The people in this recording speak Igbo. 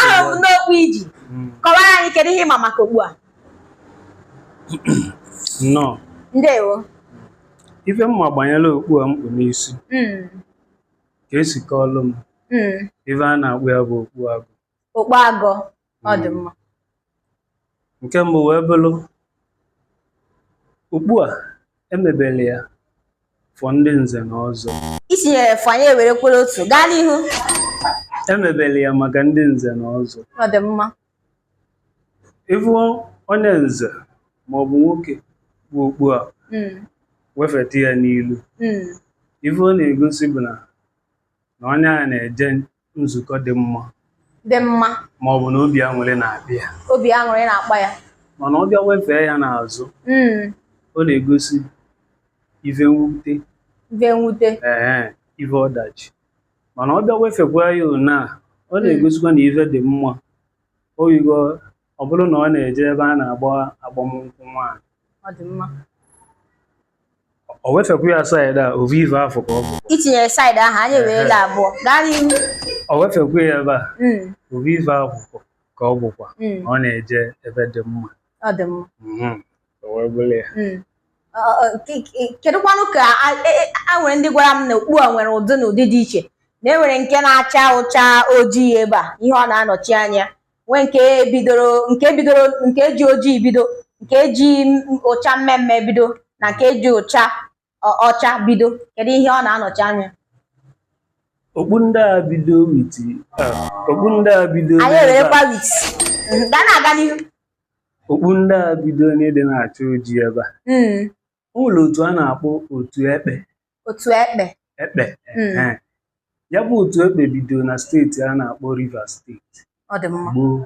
ahụrụ m okpu i ji hmm. kọwara anyị kedu ihe ị ma maka okpu a nnọọ ndewo ife m ma gbanyere okpu a m kpu n'isi hmm. ka e si kọọlụ m hmm. ife a na-akpọ ya bụ okpu agụ okpu agụ ọ dị mma nke mbụ wee bụrụ okpu a e mebere ya for ndị nze na ọzọ i tinyere for anyị ewerekwa otu gaa n'ihu e mebere ya maka ndị nze na ọzọ ọ dị mma ị fụ onye nze ma ọ bụ nwoke bu okpu a Mm, wefeta ya n'ilu mm, ife ọ na-egosi bụ na na onye a na-eje nzukọ dị mma dị mma ma ọ bụ na obi aṅụrị na-akpa ya obi aṅụrị na-akpa ya mana ọ bịa wefee ya n'azụ mm. ọ na-egosi ife mwute ife mwute ee ife ọdachi mana ọ bịa wefekwa ya ona ọ mm. na-egosikwa na ife dị mma oyigo ọ bụrụ na ọ na-eje ebe a na-agba agbamnkwụ nwaanyị ọ dị mma o wefekwu ya side a ovu ive afụ ka ọ bụ i tinyere side ahụ anyị ewerela abụọ gaa n'ihu o wefekwu ya ebe a Mm, ovu ive afụ ka ọ bụkwa mm, na ọ na-eje ebe dị mma ọ dị mma Mhm. O wee bụrụ ya. Mm. Ọ- ọ- ke- ke- kedụkwanụ ka a- e- e- a nwere ndị gwara m na okpu a nwere ụdị na ụdị dị iche na e nwere nke na-acha ụcha ojii ebe a ihe ọ na-anọchi anya nwee nke bidoro nke bidoro nke e ji ojii bido nke e ji ụcha mmee mmee bido na nke e ji ụcha ọcha bido kedu ihe ọ na-anọchi anya okpu ndị a bido with okpu ndị a bido anyị ewerekwa with ga na-aga n'ihu okpu ndị a bido na ndị na-acha ojii ebe a hmm. e nwelu otu a na-akpọ otu ekpe otu ekpe ekpe Mm. Ehe. ya bụ otu ekpe bidoro na steeti a na-akpọ Rivers steeti ọ dị mma gboo